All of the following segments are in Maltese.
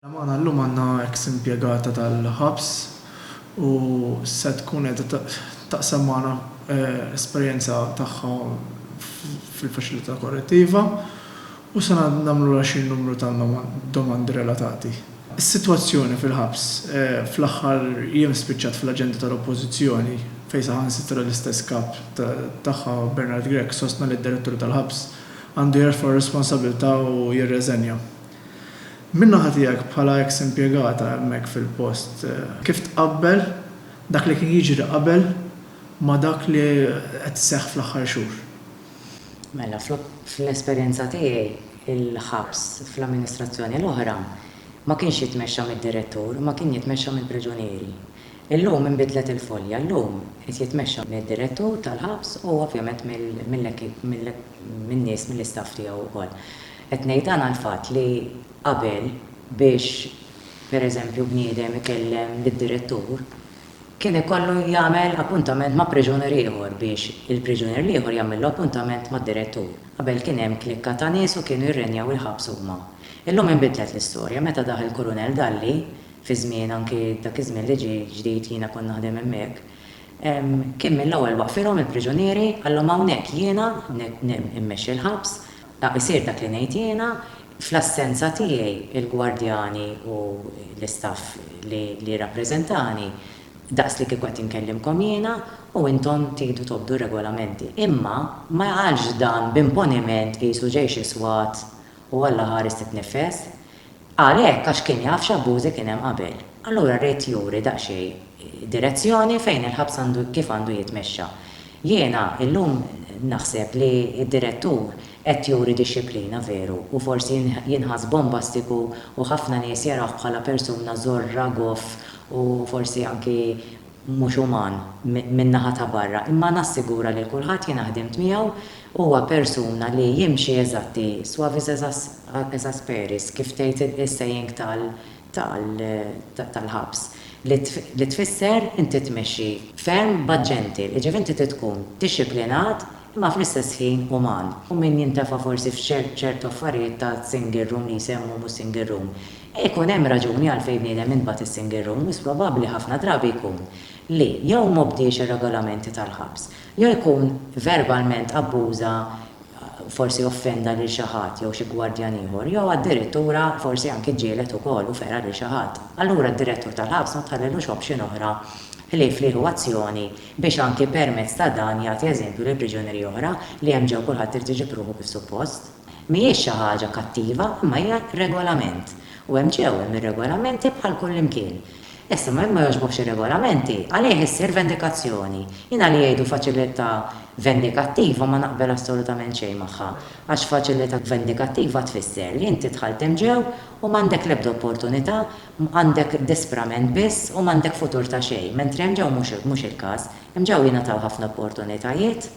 Mela magħna llum għandna eks impjegata tal-ħabs u se tkun qiegħda taqsam magħna esperjenza tagħha fil-faċilità korrettiva u se nagħmlulha xi numru ta' domandi relatati. Is-sitwazzjoni fil-ħabs fl-aħħar jiem spiċċat fl-aġenda tal-Oppożizzjoni fejn saħansitra l-istess kap tagħha Bernard Grech sostna li d-Direttur tal-Ħabs għandu jerfa' r-responsabbiltà u jirreżenja. Min-naħa tiegħek bħala eks impjegata hemmhekk fil-post, kif tqabbel dak li kien jiġri qabel ma' dak li qed iseħħ fl-aħħar xhur? Mela, fl-esperjenza tiegħi, il-ħabs fl-amministrazzjoni l-oħra ma kienx jitmexxa mid-direttur, ma kien jitmexxa mill-priġunieri. Illum inbidlet il-folja, llum qed jitmexxa mid-direttur tal-ħabs u ovvjament mill-nies, mill-istaff tiegħu wkoll. Qed ngħid dan għall-fatt li qabel biex pereżempju bniedem ikellem lid-direttur kien ikollu jagħmel appuntament ma' priġunier ieħor biex il-priġunier l-ieħor jagħmillu appuntament mad-direttur. Qabel kien hemm klikka ta' nies u kienu jirrenjaw il-ħabs huma. Illum inbidlet l-istorja meta dah il-Kurunell Dalli, fi żmien anki dak iż-żmien li ġie ġdid jiena kont naħdem hemmhekk, kien mill-ewwel waqfilhom il-priġunieri qalhom hawnhekk jiena qed immexxi l-ħabs Dak isir dak li ngħid jiena, fl-assenza tiegħi il-gwardjani u l-istaff li jirrappreżentani daqs li kieku qed inkellimkom jiena u intom tiedu tobdu r-regolamenti. Imma. Ma jaqax dan b'imponiment qisu ġejx iswat u Alla ħares titniffes. Qal hekk għax kien jaf x'abbużi kien hemm qabel. Allura ried juri daqsxejn direzzjoni fejn il-ħabs għandu kif għandu jitmexxa. Jiena illum naħseb li d-direttur qed juri dixxiplina veru u forsi jinħass bombastiku u ħafna nies jarawh bħala persuna żorra, goff u forsi anki mhux uman min-naħa ta' barra imma nassigura lil kulħadd jiena ħdimt miegħu Huwa persuna li jimxi eżatti, suavis ex asperis, kif tgħid is-saying tal-ħabs, li tfisser inti tmexxi ferm but gentle, jiġifieri inti trid tkun dixxiplinat imma fl-istess ħin uman. U min jintefa' forsi f'ċertu affarijiet ta' single room li jsemmu mhux single room, ikun hemm raġuni għalfejn bniedem intbagħat is-single room, wis probabbli ħafna drabi jkun li jew m'obdiex ir-regolamenti tal-ħabs, jew ikun verbalment abbuża, forsi offenda lil xi ħadd jew xi gwardjan ieħor, jew addirittura forsi anki ġġieled ukoll u fera lil xi ħadd, allura d-direttur tal-ħabs ma tħallilux option oħra ħlief li jieħu azzjoni biex anki permezz ta' dan jagħti eżempju lil priġunieri oħra li hemm ġew kulħadd irid iġib ruħu kif suppost. Mhijiex xi ħaġa kattiva imma hija regolament u hemm ġew hemm ir-regolamenti bħal kullimkien. Issa, ma jekk ma jogħġbokx ir-regolamenti, għalih issir vendikazzjoni. Jiena li jgħidu faċilità vendikattiva ma naqbel assolutament xejn magħha, għax faċilità vendikattiva tfisser li inti dħalt imġew u m'għandek l-ebda opportunità, għandek disprament biss u m'għandek futur ta' xejn, mentri imġew mhux il-każ, imġew jingħataw ħafna opportunitajiet.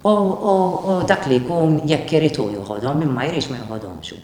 U dak li jkun jekk irid hu joħodhom, min ma jridx ma joħodhomx hu.